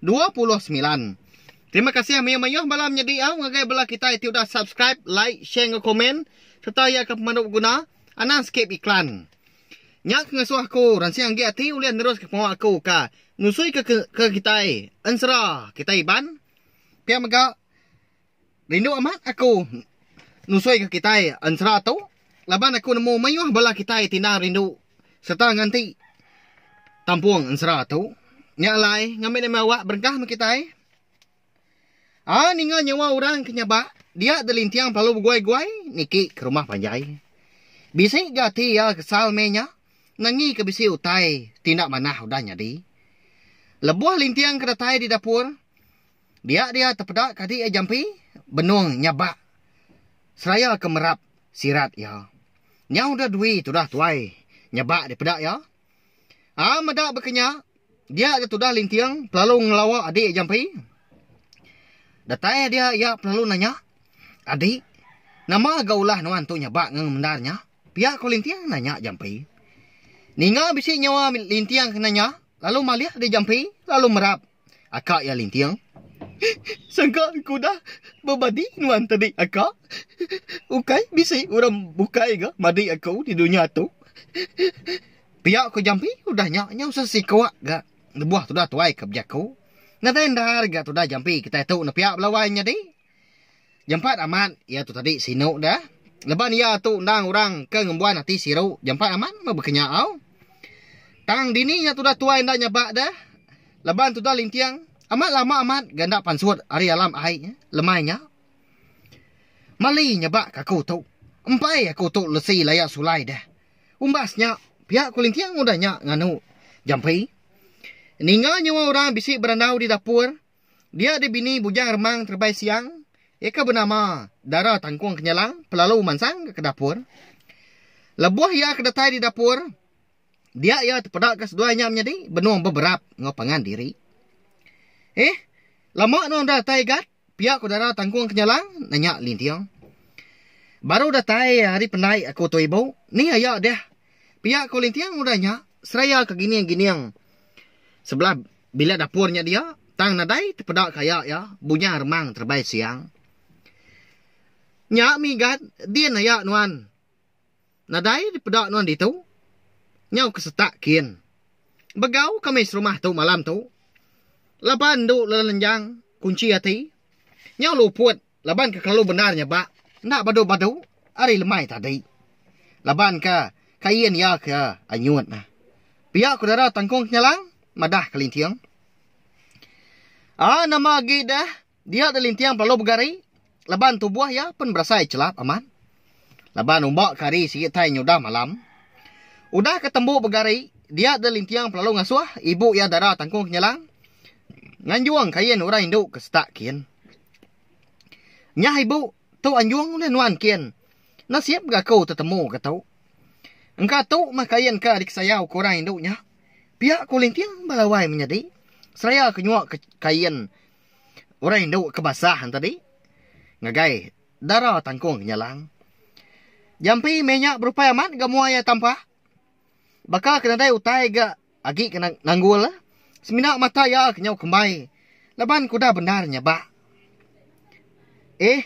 dua puluh semilan. Terima kasih mayuh-mayuh bala menyedi au ngagai bala kitai ti udah subscribe, like, share enggau komen sereta iya ke pemandu beguna. Anang skip iklan. Nya ke ngasuh aku ransing agi ati ulih neruska pengawa aku ka nusuika ke kitai ensera kitai Iban. Pia mega. Rindu amat aku nusuika kitai ensera tu laban aku nemu mayuh bala kitai ti enda rindu sereta nganti tampung ensera tu. Nya alai ngambi enda meh awak berengkah meh kitai. Ai ninga nyawa orang ke nyabak dia da linting belalu beguai-guai niki ke rumah panjai. Bisi ga ati iya kesal meh nya nangika bisi utai ti enda manah udah nyadi. Lebuh linting ke datai di dapur Dia dia tepeda kadi iya jampi benung nyabak seraya ke merap sirat iya. Nyau udah dui tudah tuai nyabak dipeda iya. A meda baka nya, dia da tudah linting pelalu ngelawa adi iya jampi. Datai dia iya pelalu nanya, Adi, nama ga ulah nuan tu nyabak ngenga mendar nya? Pia ko linting nanya jampi. Ninga bisi nyawa linting kena nya, lalu malih dia jampi lalu merap. Aka iya linting. Sangka ku udah bebadi nuan tadi aka. Ukai bisi orang bukai ga madi aku di dunya tu. Pia ku Jampi udah nya nyau sesiko ga lebuh tudah tuai ke bejaku. Nadai endar ga tudah Jampi kitai tu nepia belawai nyadi. Jampat amat iya tu tadi sinu dah. Leban iya tu endang orang ke ngembuan ati siru. Jampat amat meh bekenya au. Tang dini nya tudah tuai enda nyabak dah. Leban tudah linting. Amat lama amat ga enda pansut ari alam ai nya. Lemai nya. Mali nyabak ke aku tu. Empai aku tu lesi laya sulai dah. Umbas nya pia ku linting udah nya nganu Jampi. Ninga nyawa orang bisi berandau di dapur. Dia di bini Bujang Remang Terebai Siang, iya ke benama Dara Tangkung Kenyalang pelalu mansang ke dapur. Lebuh iya ke datai di dapur, dia iya tepeda ke seduai nya menyadi benung beberap enggau pangan diri. Eh, lama nuan udah datai Igat? pia ku Dara Tangkung Kenyalang nanya Linting. Baru datai ari pendai aku tu ibu, ni aya deh, pia ku Linting udah nya seraya ke gining-gining sebelah Bilik dapur nya dia, tang nadai tepeda ke aya iya, bunyah remang terebai siang. Nya minggat din aya nuan. Nadai dipeda nuan ditu. Nyau ke setak kin. Begau ke meh serumah tu malam tu. Laban endu lelenjang kunchi ati. Nyau luput. laban ke kelalu bendar nyebak enda badu-badu ari lemai tadi laban ke kain iya ke anyut neh. Pia ku Dara Tangkong Kenyalang madah Kelinting. Aa nama agi deh dia Kelinting belalu begari laban tubuh iya pun berasai chelap amat laban umba ke hari sigi tai nyudah malam. Udah ke tembu begari dia Kelinting belalu ngasuh ibu iya Dara Tangkong Kenyalang nganjung kain orang indu ke setak kin. Nyah ibu tu anjung ulih nuan kin nasib ga aku tetemu ga tu. Engka tu mah kain ka dikesayau ku orang indu nya. Pia ku linting ba lawai menyadi seraya ke nyua ke kain orang indu ke basah enti tadi ngagai dara tangkung nyalang. Jampi meh nya berupai amat ga muai iya tampa. Baka ke nadai utai ga Agi ke nanggul, semina mata iya ke nyau kembai laban ke udah bendar nyabak. Eh,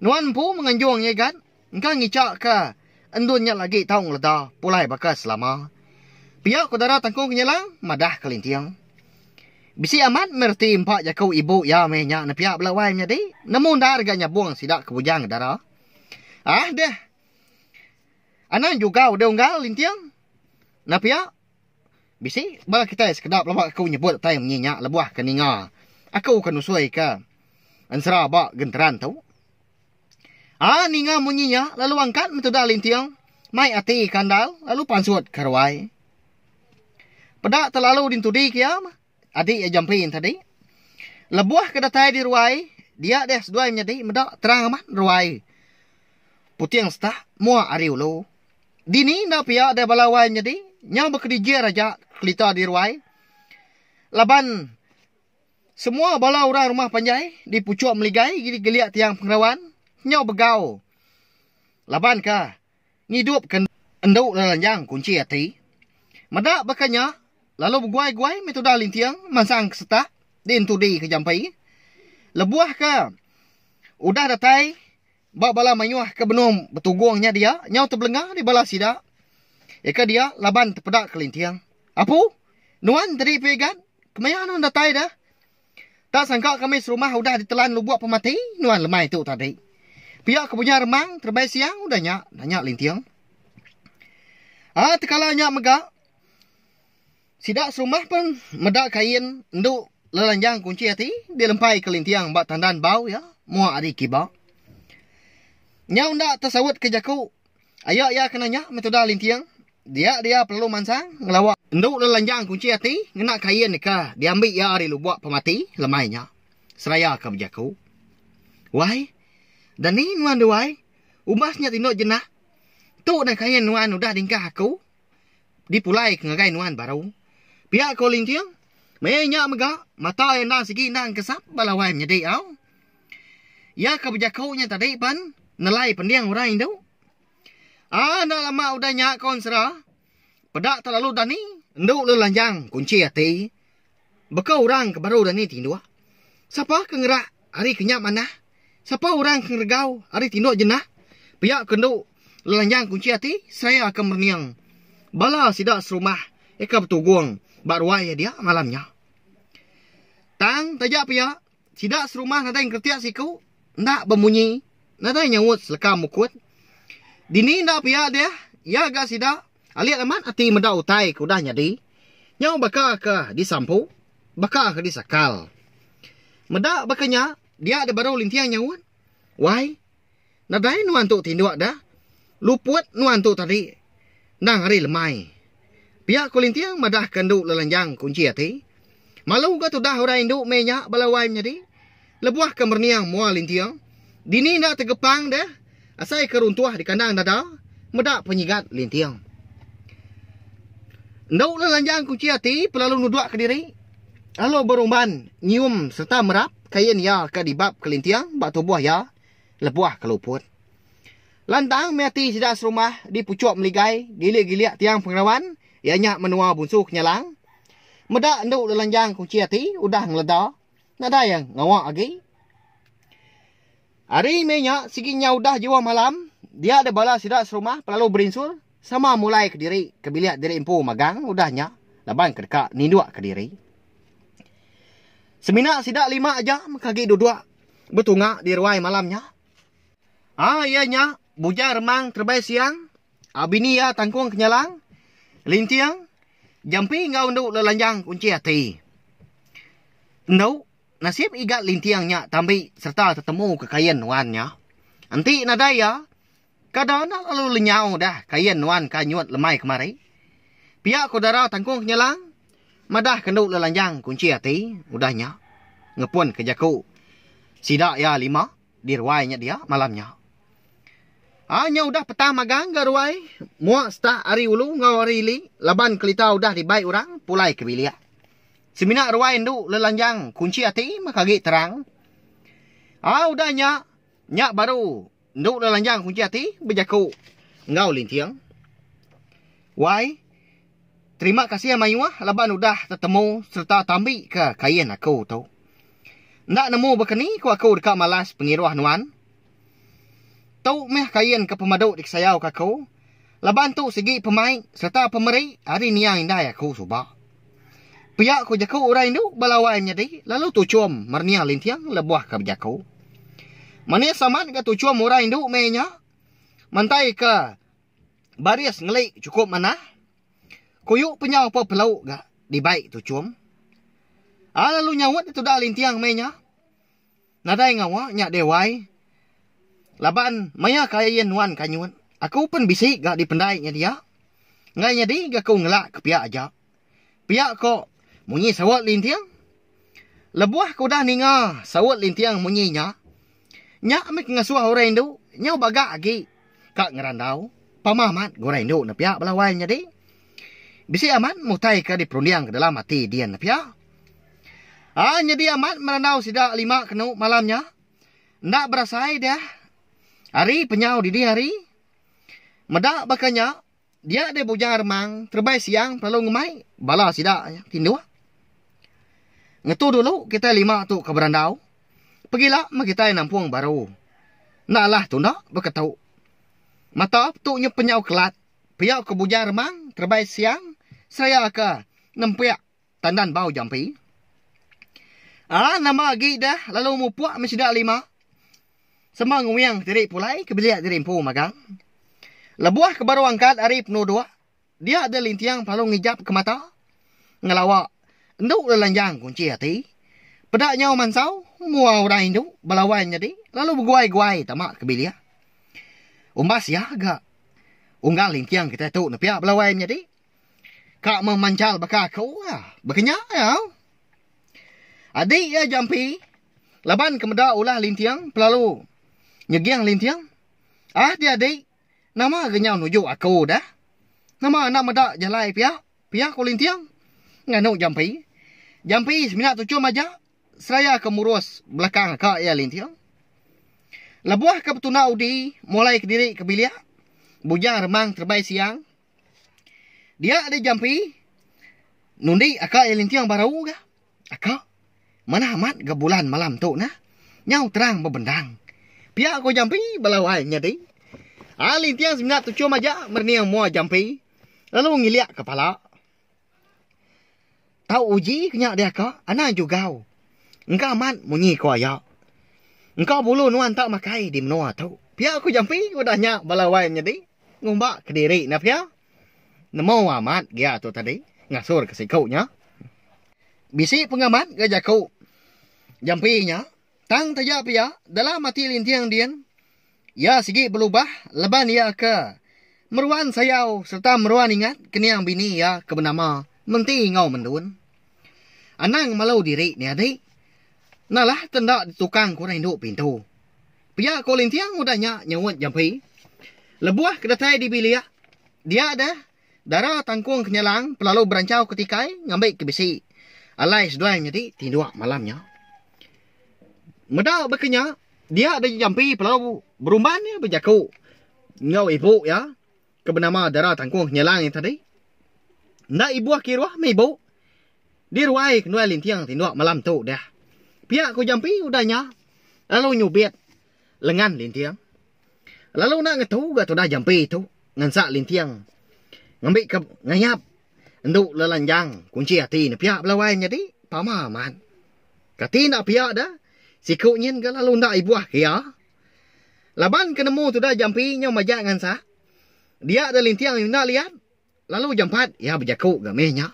nuan empu menganjung iya gat engka ngica ke endun nya lagi tau ngeleda pulai baka selama. Pia ku Dara Tangkong Kenyalang madah ke Linting. Bisi amat meh reti empa jaku ibu iya meh nya nepia bela wai menyadi nemu endar ga nyabung sida ke bujang dara. Ah deh. Anang juga udah unggal Linting. Enda pia, bisi bala kitai sekeda pelaba aku nyebut utai munyi nya lebuh ke ninga aku ke nusuika ensera ba genteran tu. A ninga munyi nya lalu angkat metuda linting mai ati kandal lalu pansut ke ruai. Peda telalu dintudi ke iya. Adi iya jampi enti adi. Lebuh ke datai di ruai, dia deh seduai menyadi meda terang amat ruai. Puting setak mua ari ulu. Dini enda pia deh bala wai menyadi, nyau bekedijir aja kelita di ruai. Laban semua bala orang rumah panjai di puchuk meligai gili gelik tiang pengerawan nyau begau. Laban ka. ngidupka endu neranjang kunchi ati. Meda baka nya, lalu beguai-guai meh tudah linting mansang ke setak di entudi ke jampi. Lebuh ke udah datai ba bala mayuh ke benung betugung nya dia nyau tebelenga di bala sida iya ke dia laban tepeda ke linting. Apu, nuan tadi pia igan? Kemaya nuan datai deh? Tak sangka kami serumah udah ditelan lubok pemati nuan lemai tu tadi. Pia ke punya remang terebai siang udah nya, nanya Linting. Ah tekala nya mega sida serumah pun meda kain endu lelanjang kunchi ati dilempaika Linting ba tandan bau iya muak ari kiba. Nyau enda tesautka jaku Aya iya kena nya meh tudah linting dia dia pelalu mansang ngelawa endu lelanjang kunchi ati ngena kain deka diambi iya ari lubok pemati lemai nya seraya ka bejaku. Wai dani nuan duai umbas nya tindok jenak tu nah kain nuan udah dingkah aku dipulai ka ngagai nuan baru pia ko linting meh nya mega mata iya endang sigi endang kesap ba lawai menyadi au. Iya ke bejaku nya tadi pen nelai pending orang indu. Ah enda lama udah nya ko ensera, peda telalu dani endu lalu lanjang kunchi ati. Baka orang ke baru dani tinduk. Sapa ke ngerak ari ke nya manah. Sapa orang ke ngeregau ari tinduk jena pia ke endu lalu lanjang kunchi ati seraya ke merening bala sida serumah ke betugung ba ruai iya dia malam nya. Tang taja pia Sida serumah nadai ngeretik siku enda bemunyi, nadai nyaut seleka mukut. Dini enda pia deh, iya ga sida alik amat ati meda utai ke udah nyadi. Nyau baka ke disampu, baka ke disakal. Meda baka nya, dia deh baru linting nyaut, Wai. Nadai nuan tu tinduk dah. Luput nuan tu tadi endang ari lemai. Pia ku Linting madahka endu Lelanjang kunchi ati. Malu ga tudah orang indu meh nya bala wai menyadi. Lebuh ke merening mua Linting, dini enda tegepang deh asai ke runtuh di kandang dada meda penyigat Linting. Endu Lelanjang kunchi ati pelalu nudukka diri lalu berumban nyium sereta merap. Kain iya ke dibab kelinting ba tubuh iya lebuh ke luput. Lantang meh ati sida serumah dipuchuk meligai gilik-gilik tiang pengerawan iya nya menua Bunsu Kenyalang. Meda endu lelanjang kunchi ati udah ngeleda nadai ngawa agi. Ari meh nya sigi nya udah jua malam dia deh bala sida serumah pelalu berinsur sama mulai ke diri ke bilik diri empu magang udah nya laban ke deka ninduk ke diri. Semina sida lima aja meh ke agi duduk betunga di ruai malam nya. Ai iya nya Bujang Remang Terebai Siang, bini iya Tangkung Kenyalang, Linting, Jampi enggau Endu Lelanjang Kunchi Ati. Endu. Nasib igat linting nya tambi sereta tetemu ke kain nuan nya. Enti nadai iya, kada enda lalu lenyau dah kain nuan ke anyut lemai kemari. Pia ko dara Tangkong Kenyalang madah kendu lelanjang kunchi ati udah nya ngepun ke jaku sida iya lima. di ruai nya dia malam nya. Au nya udah petang magang ga ruai, mua start ari ulu enggau ari ili laban kelita udah dibai orang pulai ke bilik. Semina ruai endu lelanjang kunchi ati maka agi terang. Au udah nya, nya baru endu lelanjang kunchi ati bejaku enggau Linting. Wai. Terima kasih mayuh laban udah tetemu sereta tambi ka kain aku tu. Enda nemu bakani ku aku deka malas pengiruh nuan. Tu meh kain ke pemadu dikesayau ka aku laban tu sigi pemai sereta pemeri ari nia indai aku suba. Pia ku jaku orang indu ba lawan nyadi lalu tuchum mernia linting lebuh ka bejaku. Manis amat ga tuchum orang indu meh inya mantai ka. Baris ngeli chukup manah. Kuyu penyau pa pelau ga dibai tu chum. A lalu nyaut di tuda linting meh nya. Nadai ngawa nya deh wai. Laban maya kai ayen nuan kanyut aku pen bisi ga dipendai nya dia. Enggai nyadi ga ku ngelak ke pia aja. Pia ko munyi saut linting. Lebuh ke udah ninga saut linting munyi nya, nya mih ke ngasuh orang indu nyau baga agi ka ngerandau pama amat ke orang indu ne pia bala wai nyadi. Bisi amat mutai ke diperunding ke dalam ati din ne pia. Ai nyadi amat merandau sida lima kenu malam nya enda berasai deh hari penyau dini hari. Meda baka nya. Dia deh bujang remang terebai siang pelalu ngemai bala sida tinduh. Ngetu dulu kitai lima tu ke berandau. Pegila meh kitai nampung baru. Enda alah tunda beketu. Mata tu nyep penyau kelat pia ke bujang remang terebai siang seraya ke nempiak Tandan bau jampi. Aaa nama agi dah lalu mupuk meh sida lima. Sema nguing diri pulai ke bilik diri empu magang. Lebuh ke baru angkat ari penuduk, dia deh Linting pelalu ngijapka mata ngelawa endu lelanjang kunchi ati. Peda nyau mansau mua orang indu belawan nyadi lalu beguai-guai tama ke bilik. Umbas iya ga unggal Linting kitai tu nepia belawan nyadi. Ka meh manjal baka aku ka. Baka nya ya. Adi iya jampi laban ke meda ulah linting pelalu nyeging linting. Ah di adi nama ga nyau nuju aku dah. Nama enda meda jalai pia pia ku linting nganu jampi. Jampi semina tuchum aja seraya ke murus belakang ka iya linting. Lebuh ke betunda udi mulai kediri ke bilik bujang remang terebai siang. Dia di jampi nundi aka iya linting baru ga. Aka manah amat ga bulan malam tu nah. Nyau terang bebendang. Pia ko jampi bala wai nyadi. Ai linting semina tuchum aja merening mua jampi lalu ngilik kepala. Tau uji ke nya dia ka anang jugau. Engka amat munyi ko iya. Engka bulu nuan tak makai di menua tu. Pia ko Jampi udah nya bala wai nyadi ngumba kediri enda pia. Nemu amat gia tu tadi ngasur ke siku nya. Bisi pengamat ga jaku Jampi nya. Tang taja pia, dalam ati Linting din, iya sigi belubah leban iya ke meruan sayau sereta meruan ingat kening bini iya ke benama Menti enggau Mendun. Anang malu diri ni adi, nalah te enda ditukang ke orang indu pintu. Pia ko Linting udah nya nyaut jampi lebuh ke datai di bilik dia deh. Dara tangkung ke nyalang pelalu berancau ke tikai ngambi ke bisi. Alai seduai nyadi tinduk malam nya. Meda baka nya, dia Daja Jampi pelalu berumban iya bejaku enggau ibu iya ke benama Dara Tangkung ke nyalang iya tadi. Enda ibuh kiruh meh ibu di ruai ke nuai linting tinduk malam tu deh. Pia ku Jampi udah nya lalu nyubit lengan linting. Lalu enda ngetu ga tudah jampi tu ngansak linting ngambi ke ngayap endu lelanjang kunchi ati ne pia bela wai nyadi pama amat. Kati enda pia da siku nyin ga lalu enda ibuh ke iya. Laban ke nemu tudah jampi nyau majak ngansak dia da linting enda liat lalu jampat iya bejaku ga meh nya.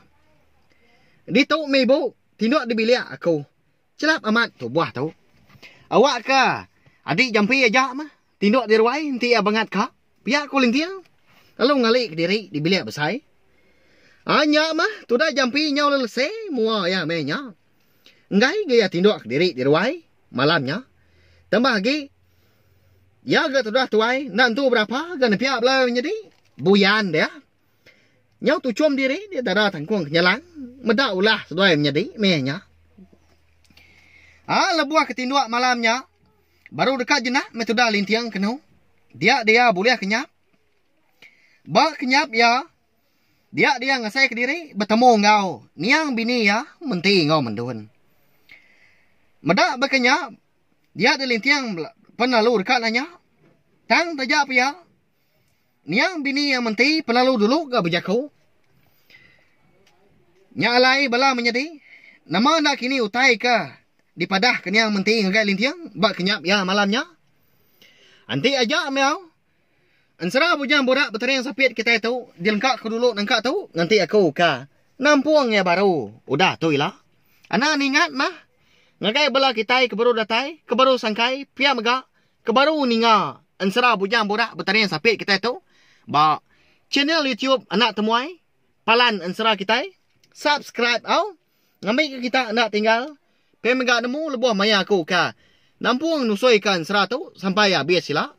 Ditu meh ibu tinduk dibilik aku Chelap amat tubuh tu. Awak ka adi jampi aja mah. Tinduk di ruai enti iya bangat ka. Pia ku Linting lalu ngali kediri di bilik besai. Ai nya mah tuda jampi nyau lelese mua iya meh nya. Enggai ga iya tinduk kediri di ruai malam nya. Tambah agi iya ga tudah tuai enda entu berapa ga nepia bela nyadi buyan dia. Nyau tuchum diri di dara tangkung kenyalang meda ulah seduai menyadi meh nya. Aa lebuh ke tinduk malam nya baru deka jenak meh tudah linting kenu dia dia bulih kenyap. Ba kenyap iya dia dia ngasai kediri betemu enggau niang bini iya menti enggau mendun. Meda baka nya dia dilinting pen lalu deka nanya tang taja pia Niang bini iya menti pelalu dulu ga bejaku. Nya alai bala menyadi, nama enda kini utai ke dipadahka niang menti ngagai linting ba kenyap iya malam nya? Enti aja mega, ensera bujang burak betering sapit kitai tu dilengka ku dulu nengka tu nganti aku ka nampung iya baru udah tu ila. Anang ningat mah ngagai bala kitai ke baru datai, ke baru sangkai pia mega. Ke baru ninga ensera bujang borak betaring sapit kitai tu ba channel YouTube Anak Temuai palan ensera kitai subscribe au ngambi ke kita enda tinggal pia mega nemu lebuh maya aku ka nampung nusui ka ensera tu sampai abis sila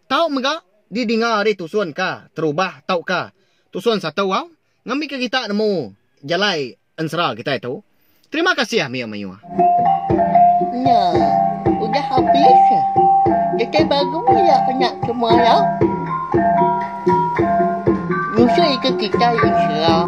tau mega di dinga ari tusun ka terubah tau ka tusun satu au ngambi ke kita nemu jalai Ensera kitai tu. Terima kasih ah meyuh meyuh. Nya. Udah abis. Kitai baru ya nya ke muara. Nyusui ke kitai ensera.